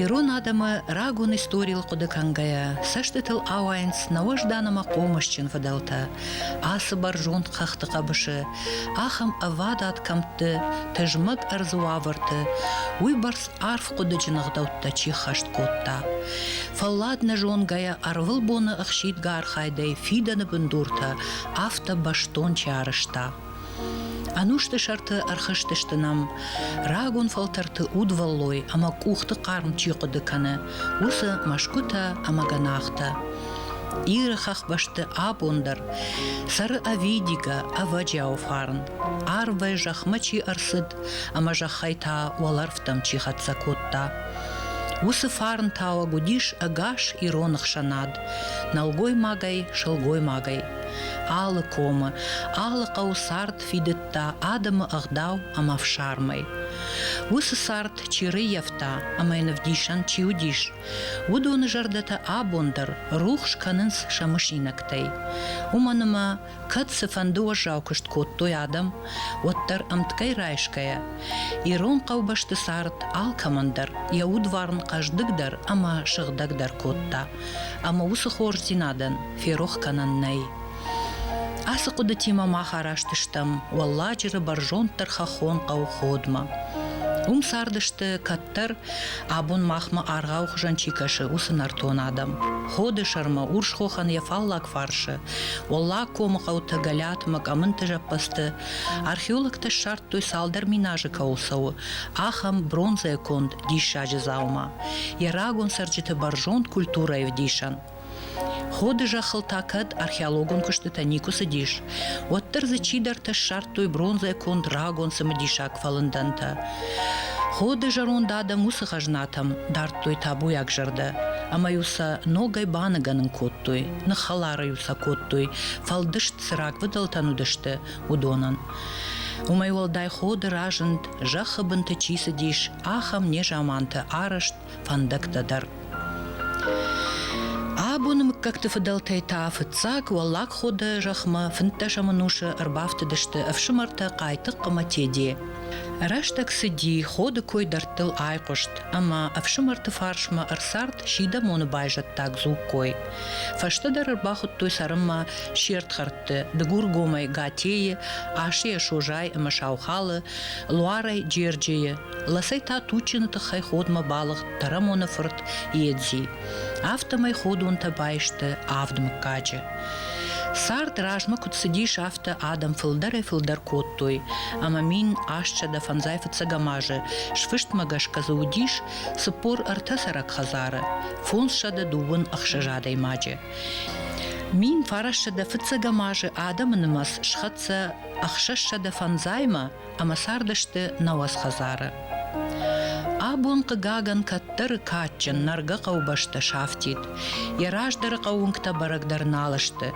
Ирон адӕмы рагон историйыл хъуыды кӕнгӕйӕ, цӕстытыл ауайынц нӕ уӕздан ӕмӕ хъомысджын фыдӕлтӕ, ацы бӕрзонд хӕхты хъӕбысы, ахӕм ӕвадат кӕмтты, тызмӕг ӕрдзы уавӕрты, уыйбӕрц арф хъуыдыджын ӕгъдӕуттӕ чи ххӕст кодта. Фӕллад нӕ зонгӕйӕ ӕрвылбоны ӕхсидгӕ архайдӕй фидӕны бындуртӕ афтӕ бӕстон чи арӕзта. Ӕнусты сӕрты ӕрхызтысты нӕм, рагон фӕлтӕрты удвӕллой ӕмӕ къухты хъарм чи хъуыды кӕны, уыцы мӕсгуытӕ ӕмӕ гӕнахтӕ. Иры хӕхбӕсты абон дӕр цӕры ӕвидигӕ, ӕвӕджиауы фарн. Арвӕй зӕхмӕ чи ӕрцыд ӕмӕ зӕххӕй та уӕлӕрвтӕм чи хӕццӕ кодта. Уыцы фарн тауӕг уыдис ӕгас ирон ӕхсӕнад, нӕлгоймагӕй, сылгоймагӕй. Алы комы, алы хъӕуы цард фидыдта адӕмы ӕгъдау ӕмӕ ӕфсармӕй. Уыцы цард чи рыййӕфта ӕмӕ йын ӕвдисӕн чи уыдис, уыдоны зӕрдӕтӕ абон дӕр рухс кӕнынц сӕ мысинӕгтӕй. Уымӕн ӕмӕ, кӕд цыфӕнды уӕззау куыст кодтой адӕм, уӕддӕр ӕмткӕй райсгӕйӕ, ирон хъӕубӕсты цард алкӕмӕн дӕр йӕ удварн хъӕздыгдӕр ӕмӕ сыгъдӕгдӕр кодта. ӕмӕ уыцы хорздзинадӕн ферох кӕнӕн нӕй. Ацы хъуыдытимӕ мах араст стӕм Уӕлладжыры бӕрзонддӕр хӕххон хъӕуходмӕ. Уым цардысты, кӕддӕр абон махмӕ аргъауы хуызӕн чи кӕсы, уыцы нӕртон адӕм. Ходы сӕрмӕ Урсхохӕн йӕ фаллаг фарсы, Уӕллаг комы хъӕутӕ Гӕлӕтмӕ къӕмынты зӕппӕдзты археологтӕ ссардтой цалдӕр минажы кӕуыл цӕуы, ахӕм бронзӕ конд диссаджы дзаума. йӕ рагон цӕрджыты бӕрзонд культурӕйы вдисӕн. Ходы зӕххыл та кӕд археологон куыстытӕ никуы цыдис, уӕддӕр дзы чидӕртӕ ссардтой бронзӕ конд рагон цымыдисаг фӕлындӕнтӕ. Ходы зӕронд адӕм уыцы хӕзнатӕм дардтой табуйаг зӕрдӕ, ӕмӕ-иу сӕ ногӕй баныгӕнын кодтой, ныххӕлар-иу сӕ кодтой, фӕлдыст цы рагфыдӕлтӕн уыдысты, уыдонӕн. Уымӕй уӕлдай ходы разынд, зӕххы бынты чи цыдис, ахӕм незаманты арӕзт фӕндӕгтӕ дӕр. Абоны мыггӕгты фыдӕлтӕй та фыццаг Уӕллаг Ходы зӕхмӕ фынддӕсӕм ӕнусы ӕрбафтыдысты ӕфсымӕртӕ Хъайтыхъ ӕмӕ Теде. Рӕстӕг цыди, ходы кой дӕрдтыл айхъуыст, ӕмӕ ӕфсымӕрты фарсмӕ ӕрцард сидӕмоны байзӕддаг дзугкой. Фӕстӕдӕр ӕрбахуыдтой цӕрынмӕ се рдхӕрдты, Дыгургомӕй Гатейы, Асыйӕ Созайы ӕмӕ Саухалы, Луарӕй Джерджийы, ласӕй та Тутчины тыххӕй ходмӕ балыгъд Тарамоны фырт Едзи. Афтӕмӕй ходонтӕ байсты авд мыггаджы. Цард размӕ куыд цыдис, афтӕ адӕм фылдӕрӕй-фылдӕр кодтой, ӕмӕ мин астсӕдӕ фӕндзай фыццӕгӕм азы сфыстмӕ гӕсгӕ дзы уыдис Цыппор ӕртӕ цӕрӕг хӕдзары, фондзсӕдӕ дыууын ӕхсӕз адӕймаджы. Мин фарӕссӕдӕ фыццӕгӕм азы адӕмы нымӕц схӕццӕ ӕхсӕзсӕдӕ фӕндзаймӕ ӕмӕ цардысты нӕ уацхӕдзары. Абон, хъыгагӕн, кӕддӕры кадджын нӕргӕ хъӕубӕстӕ сафтид. Йӕ раздӕры хъӕууынгтӕ бӕрӕг дӕр нал сты.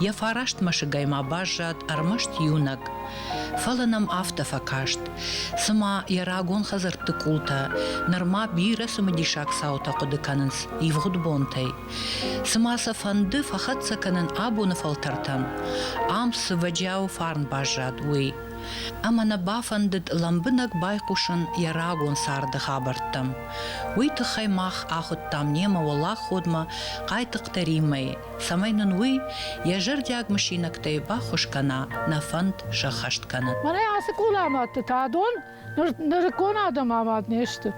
Йӕ фараст мӕсыгӕй ма баззад ӕрмӕст иунӕг. Фӕлӕ нӕм афтӕ фӕкаст, цыма йӕ рагон хӕдзӕртты къултӕ нырма бирӕ цымыдисаг цаутӕ хъуыды кӕнынц ивгъуыд бонтӕй. Цыма сӕ фӕнды фӕхӕццӕ кӕнын абоны фӕлтӕртӕн, ам цы вӕджиауы фарн баззад, уый. Ӕмӕ нӕ бафӕндыд лӕмбынӕг байхъусын йӕ рагон царды хабӕрттӕм. Уый тыххӕй мах ахуыдтам немӕ уӕлаходмӕ Хъайтыхъты Риммӕйы. цӕмӕй нын уый йӕ зӕрдиаг мысинӕгтӕй баххуыс кӕна, нӕ фӕнд сӕххӕст кӕнын. Мӕнӕ ацы къулӕмӕтты та дон нырыккон адӕм амад не сты.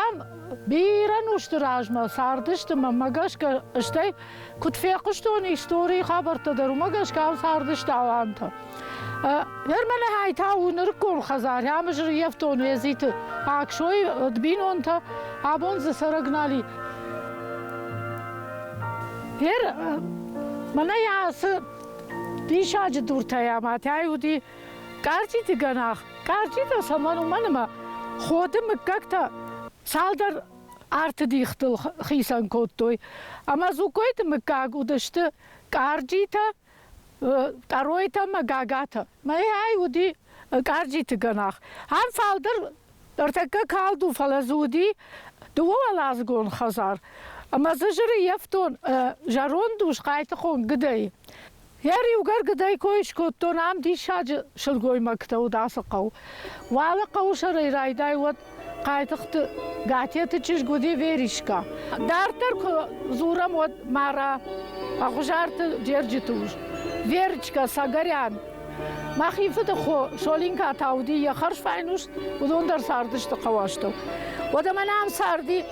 Ам бирӕ нозты размӕ цардысты мӕнмӕ гӕсгӕ, стӕй куыд фехъуыстон историйы хабӕрттӕ дӕр, уымӕ гӕсгӕ ам цардысты алантӕ. Ермеле хайтау нырыккон хӕдзари амизыр ефтон езити аксой од бинонтӕ абон дзы цӕрӕг нали. Ер мӕнӕ ацы диссаджы дуртӕй ӕмӕ тӕй уыди къӕртити гӕнах. Къӕртитӕ цӕмӕн уымӕн ӕмӕ ходы мыггӕгтӕ цалдӕр арты дихтыл хицӕн кодтой. Ӕмӕ дзукойты мыггаг уыдысты къӕрджитӕ Тъаройтӕ ӕмӕ гагатӕ. Мӕйӕй уыди къарджиты гӕнах. Ам фалдӕр ӕртӕккӕ калд у, фӕлӕ дзы уыди дыууӕуӕладзыгон хӕдзар. Ӕмӕ дзы зырыййӕфтон зӕронд ус Хъайтыхон Гыдӕй. Йӕ риугӕр Гыдӕй кой скодтон, ам диссаджы сылгоймӕгтӕ уыд ацы хъӕу. Уалы хъӕуы сӕрӕй райдай уӕд Хъайтыхъты Гатеты чызг уыди Веришкӕ. Дарддӕр куы дзурӕм, уӕд Мара Ӕгъуызарты Джерджиты ус, Верочкӕ Сагарян. Мӕхи фыды хо Солинка та уыди йӕ хӕрзфайнус, уыдон дӕр цардысты хъӕуӕстыл. Уӕдӕ мӕнӕ ам царди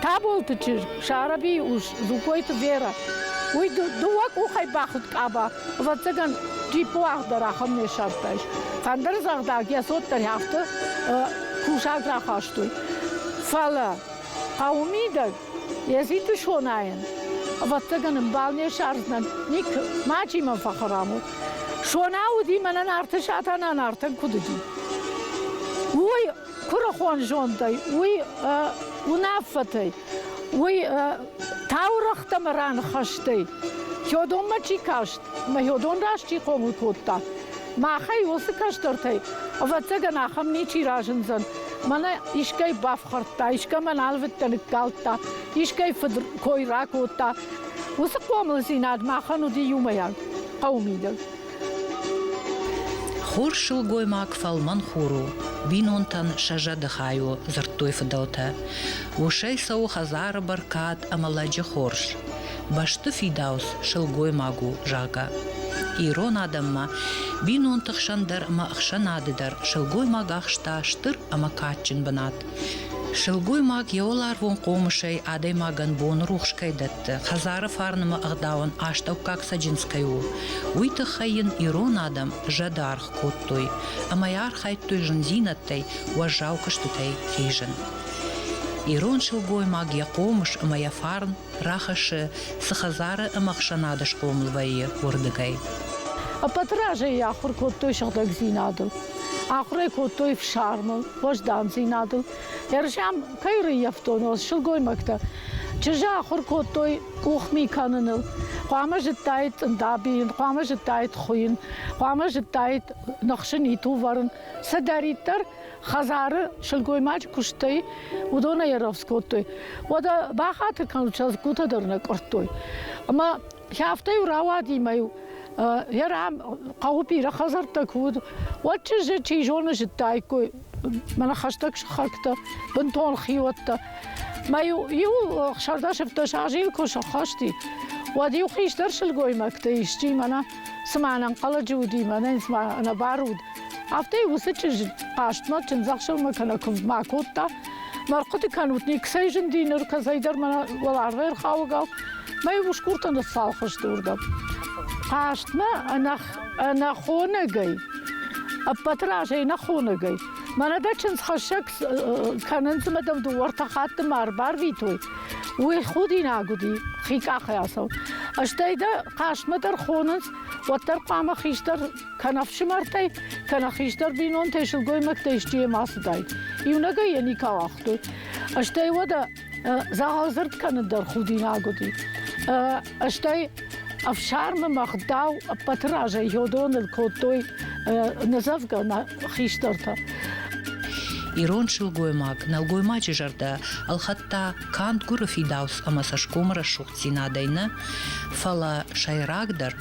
Таболты чызг Сарабийы ус Зукойты Вера. Уый дыууӕ къухӕй бахуыд къаба. Ӕвӕццӕгӕн, джиппы уагъд дӕр ахӕм не сӕфтӕ ис. Ӕндӕр зӕгъдӕг, йӕ цот дӕр афтӕ кусаг рахастой. Фӕлӕ хъӕуы мидӕг йӕ зиды сонайын, ӕвӕццӕгӕн, ӕмбал не ссардзынӕн, ник мачи мӕн фӕхӕрам у. Сона уыди мӕнӕ Нарты Сатана Нартӕн куыд уыди. Уый куырыхон зондӕй, уый уынаффӕтӕй, уый таурӕгътӕм раныхӕстӕй. Хёдонмӕ чи каст, мӕ Хёдон раст чи хъомыл кодта, махӕй уыцы кӕстӕртӕй, ӕвӕццӕгӕн, ахӕм ничи разындзӕн. Мӕнӕ искӕй бафхӕрдта, искӕмӕ налвыдтӕ ныккалдта, искӕй фыд кой ракодта. Уыцы хъомылдзинад махӕн уыди иумӕйаг, хъӕуы мидӕг. Хор сылгоймаг фӕлмӕн хур у, бинонтӕн сӕ зӕды хай у, дзырдтой фыдӕлтӕ. Усӕй цӕуы хӕдзары бӕркад ӕмӕ лӕджы хорз. Бӕсты фидауц сылгоймаг у, зӕгъгӕ. Ирон адӕммӕ бинонты хсӕн дӕр ӕмӕ ӕхсӕнады дӕр сылгоймаг ахста стыр ӕмӕ кадджын бынат. Сылгоймаг йӕ уӕларвон хъомысӕй адӕймагӕн боны рухс кӕй дӕтты, хӕдзары фарнымӕ ӕгъдауӕн астӕуккаг цӕджындз кӕй у, уый тыххӕй йын ирон адӕм зӕды аргъ кодтой ӕмӕ йӕ архайдтой зындзинӕдтӕй, уӕззау куыстытӕй хизын. Ирон сылгоймаг йӕ хъомыс ӕмӕ йӕ фарн рахӕссы цы хӕдзары ӕмӕ ӕхсӕнады схъомыл вӕййы, уырдыгӕй. Ӕппӕты разӕй йӕ ахуыр кодтой сыгъдӕгдзинадыл, ахуыр ӕй кодтой фсармыл. уӕздандзинадыл. Ӕрзӕм кӕй рыййӕфтон сылгоймӕгтӕ, чызджы ахуыр кодтой къухми кӕныныл. Хъуамӕ зыдтаид тъындабийын, хъуамӕ зыдтаид хуыйын, хъуамӕ зыдтаид ныхсын, итувӕрын. Цыдӕриддӕр хӕдзары сылгоймаджы куыстӕй уыдон аэровс кодтой. Уӕдӕ бахатыр кӕнут, сӕ лӕггутӕ дӕр нӕ къуырдтой. Ӕмӕ Афтӕ-иу рауади мӕ-иу йӕ рам хъӕуы бирӕ хӕдзӕрттӕ куы уыд, уӕд чызджы, чи зоны, зыдтаиккой мӕнӕ хӕстӕг сыхӕгтӕ, бынтон хиуӕттӕ. Мӕ-иу иу сӕрдӕсыфдӕс азы йыл куы сӕххӕсти, уӕд-иу хистӕр сылгоймӕгты исчи мӕнӕ цыма ӕнӕнхъӕлӕджы уыди, мӕнӕ цыма ӕнӕбар уыд, Афтӕ уыцы чызджы хъастмӕ чындзӕхсӕвмӕ кӕнӕ куывдмӕ акодта. Мӕ рхъуыды кӕнут, никӕцӕй зынди ныр, кӕцӕйдӕр мӕ уӕл арвӕй ӕрхауӕгау. Мӕ усгуртӕ ныццалхысты уырдӕм. Хъастмӕ ӕнӕхонӕгӕй, ӕппӕты разӕй ӕнӕхонӕгӕй, мӕнӕ дӕ чындзхӕссӕг кӕнынц ӕмӕ дӕм дыууӕ-ӕртӕ хатты ма ӕрбарвитой. Уый худинаг уыди, хи къахӕй ацӕуын. Стӕй дӕ хъастмӕ дӕр хонынц, уӕддӕр хъуамӕ хистӕр кӕнӕ ӕфсымӕртӕй, кӕнӕ хистӕр бинонтӕй, сылгоймӕгтӕй исчи йӕм ацыдаид. Иунӕгӕй йӕ никал агътой. Стӕй уӕдӕ дзӕгъӕлдзырд кӕнын дӕр худинаг уыди. Стӕй ӕфсармы мӕгъдау ӕппӕты разӕй йодоныл кодтой ныдзӕвгӕ нӕ хистӕртӕ. Ирон сылгоймаг нӕлгоймаджы зӕрдӕ ӕлхӕдта канд гуыры фидауц ӕмӕ цӕсгомы рӕсугъддзинадӕй нӕ, фӕлӕ, сӕйрагдӕр,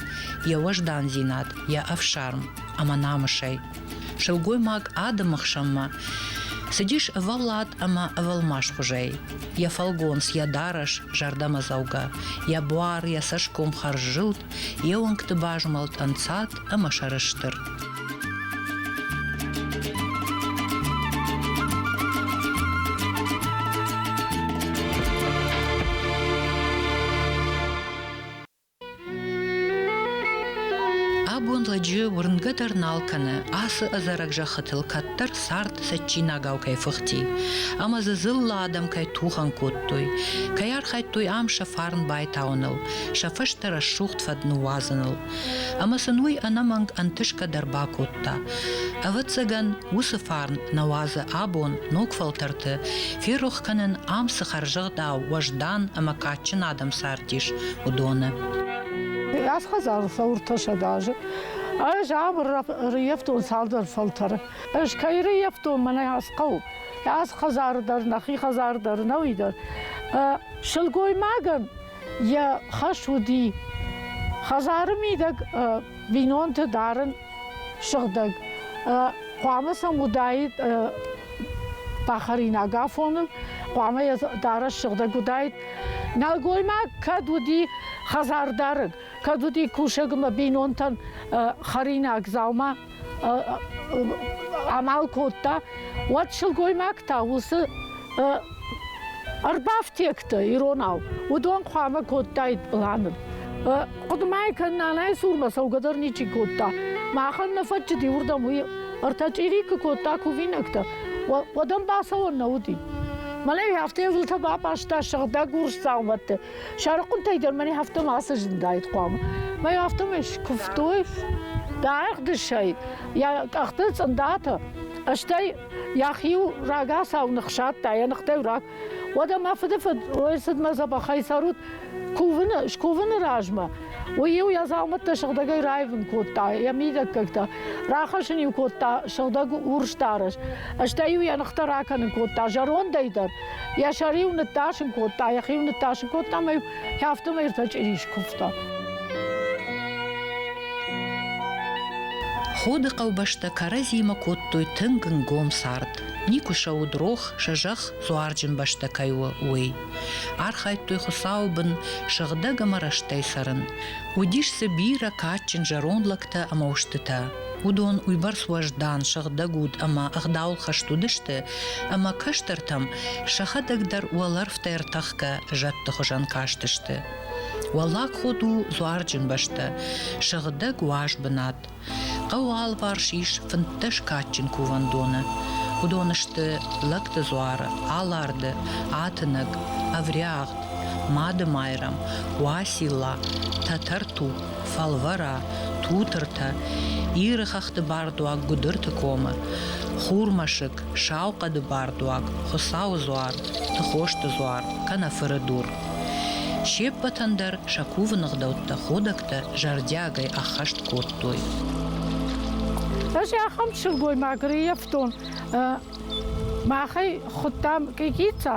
йӕ уӕздандзинад, йӕ ӕфсарм ӕмӕ намысӕй. Сылгоймаг адӕмы хсӕнмӕ цыдис ӕвӕллад ӕмӕ ӕвӕлмасхуызӕй. Йӕ фӕлгонц, йӕ дарӕс зӕрдӕмӕдзӕугӕ, йӕ буар, йӕ цӕсгом хӕрззылд, йе уӕнгты базмӕлд ӕнцад ӕмӕ сӕрыстыр. Абон лӕджы уырнгӕ дӕр нал кӕны, ацы ӕдзӕрӕг зӕххытыл кӕддӕр цард цӕджджинагау кӕй фыхти, ӕмӕ дзы дзыллӕ адӕм кӕй тухӕн кодтой, кӕй архайдтой ам сӕ фарн байтауыныл, сӕ фӕстӕ рӕсугъд фӕд ныууадзыныл. Ӕмӕ сын уый ӕнӕмӕнг ӕнтысгӕ дӕр бакодта. Ӕвӕццӕгӕн, уыцы фарн нӕ уадзы абон ног фӕлтӕрты ферох кӕнын, ам цы хӕрзӕгъдау, уӕздан ӕмӕ кадджын адӕм цардис, уыдоны. Ӕз хӕдзары фӕуртасӕд азы. Ӕз абыр рыййӕфтон цалдӕр фӕлтӕры. Ӕз кӕй рыййӕфтон, мӕнӕ ацы хъӕу. Ацы хӕдзары дӕр, нӕхи хӕдзары дӕр, нӕуи дӕр. Сылгоймагӕн йӕ хӕс уыди хӕдзары мидӕг бинонты дарын сыгъдӕг. Хъуамӕ сӕм уыдаид пахаринаг афоны, хъуамӕ йӕ дарӕс сыгъдӕг уыдаид. Нӕлгоймаг кӕд уыди хӕдзардарӕг, кӕд уыди кусӕг ӕмӕ бинонтӕн хӕринаг дзаума амал кодта, уӕд сылгоймаг та уыцы Ӕрбафтектӕ иронау, уыдон хъуамӕ кодтаид пъланы. Хъуыдымӕ кӕн нанайы цурмӕ цӕугӕ дӕр ничи кодта. Махӕн нӕ фӕтчыти уырдӕм уый ӕртӕ чъири куы кодта кувинӕгтӕ, уӕд ӕм бацӕуӕн нӕ уыди. Мӕнӕ афтӕ езылтӕ бапъӕзта сыгъдӕг урс дзаумӕтты. Сӕрыхъуынтӕй дӕр мӕн афтӕ мацы зындаид хъуамӕ. Мӕ афтӕмӕй скуывтой, бӕгъдысӕй, йӕ къӕхты цъындатӕ, стӕй Йӕхи-иу рагацау ныхсадта, йӕ ныхтӕй раг. Уӕдӕ мӕ фыдыфыд ой цыдмӕ дзӕбӕхӕй цӕрут, кувыны, скувыны размӕ. Уый-иу йӕ дзаумӕттӕ сыгъдӕгӕй раивын кодта, йӕ мидӕггӕгтӕ рахӕсын-иу кодта сыгъдӕг урс дарӕс, стӕй-иу йӕ ныхтӕ ракӕнын кодта зӕрондӕй дӕр, йӕ сӕр-иу ныттасын кодта, йӕхи-иу ныттасын кодта ӕмӕ-иу Афтӕмӕй ӕртӕ чъирис куывта. Ходы хъӕубӕстӕ кӕрӕдзимӕ кодтой тынг нгом цард. Никуы сӕ уыд рох, сӕ зӕхх дзуарджын бӕстӕ кӕй у, уый. Архайдтой Хуыцауы бын сыгъдӕг ӕмӕ рӕстӕй цӕрын. Уыдис дзы бирӕ кадджын зӕронд лӕгтӕ ӕмӕ устытӕ. Уыдон уыйбӕрц уӕздан, сыгъдӕг уд ӕмӕ ӕгъдауыл хӕст уыдысты, ӕмӕ кӕстӕртӕм сӕхӕдӕг дӕр уӕлӕрвтӕй ӕртӕхгӕ зӕдты хуызӕн кастысты. Уӕллаг ход у дзуарджын бӕстӕ, сыгъдӕг уаз бынат. Хъӕуы алыварс ис фынддӕс кадджын кувӕндоны. Уыдон сты Лӕгты дзуары, Аларды, Атынӕг, Ӕвриагъд, Мады Майрӕм, Уацилла, Тӕтӕрту, фӕлвӕра, тутыртӕ, Иры хӕхты бардуаг Гуыдырты комы, хурмӕсыг, Сау хъӕды бардуаг, Хуыцауы дзуар, Тыхосты дзуар, кӕнӕ фыры дур. Се ппӕтӕн дӕр сӕ кувы ныгъдӕуттӕ ходӕгтӕ зӕрдиагӕй ӕххӕст кодтой. Ӕз ахӕм сылгоймаг реййӕфтон. Махӕй хуыдтам Къикъица.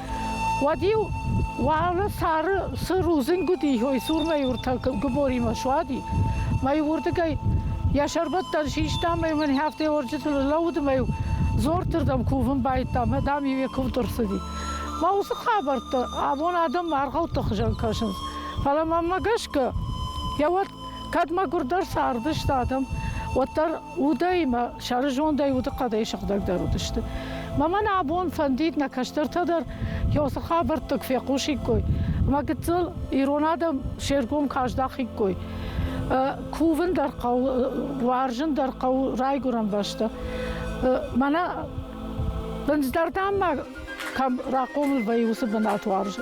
Уӕд-иу уӕлӕ сары цы рудзынг уыди, ой цурмӕ уртӕ гыборимӕ суади, мӕ-иу уырдыгӕй йӕ сӕрбӕттӕн систам ӕмӕ мын хӕфтӕй орджыты лӕуд ӕмӕ-иу дзорты рдӕм кувын байдыдтам, дам-иу йӕ куывд ӕрцыди. Мӕ уыцы хабӕрттӕ абон адӕммӕ аргъӕутты хуызӕн кӕсынц. Фӕлӕ мӕнмӕ гӕсгӕ, йӕ уӕд Кӕд мӕгуырдӕр цардысты адӕм, уӕддӕр удӕй мӕ сӕры зондӕй удыхъӕдӕй сыгъдӕгдӕр уыдысты. Мамӕн абон фӕндид нӕ кӕстӕртӕ дӕр йосы хабӕрттыг фехъусиккой ӕмӕ гыццыл ирон адӕм се ргом каздахиккой. Кувын дӕр хъӕуы, уарзын дӕр хъӕуы райгуырӕн бӕстӕ. Мӕнӕ бындздарданмӕ кӕм рахъомыл вӕййы, уыцы бынат уарзы.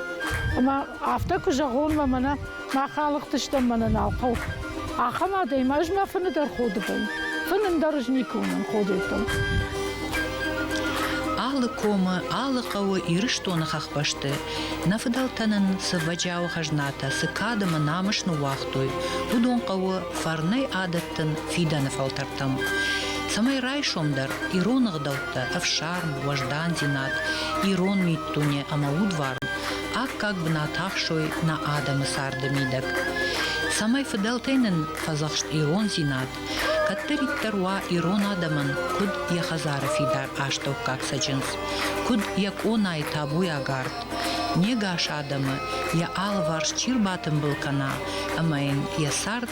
Ӕмӕ афтӕ куы зӕгъон, мӕ мӕнӕ Мах алыгътыстӕм мӕнӕ нал хъӕу. Ахӕм адӕм ӕз мӕ фыны дӕр ходы бын. Фынын дӕр ӕз никуы уынын ходетыл. Алы комы, алы хъӕуы Ирыстоны хӕхбӕсты нӕ фыдӕлтӕ нын цы вӕджиауы хӕзнатӕ, цы кадымы намыс ныууагътой, уыдон хъӕуы фӕрнӕй адӕттын фидӕны фӕлтӕртӕм. Цӕмӕй райсомдӕр ирон ӕгъдӕуттӕ, ӕфсарм, уӕздандзинад, ирон миддуне ӕмӕ удварн Аккаг бынат ахсой нӕ адӕмы царды мидӕг. Цӕмӕй фыдӕлтӕй нын фӕдзӕхст ирондзинад, кӕддӕриддӕр уа ирон адӕмӕн куыд йӕ хӕдзары фидар астӕуккаг цӕджындз, куыд йӕ къонайы табуйагард, не гас адӕмы йӕ алыварс чи рбатымбыл кӕна ӕмӕ йын йӕ цард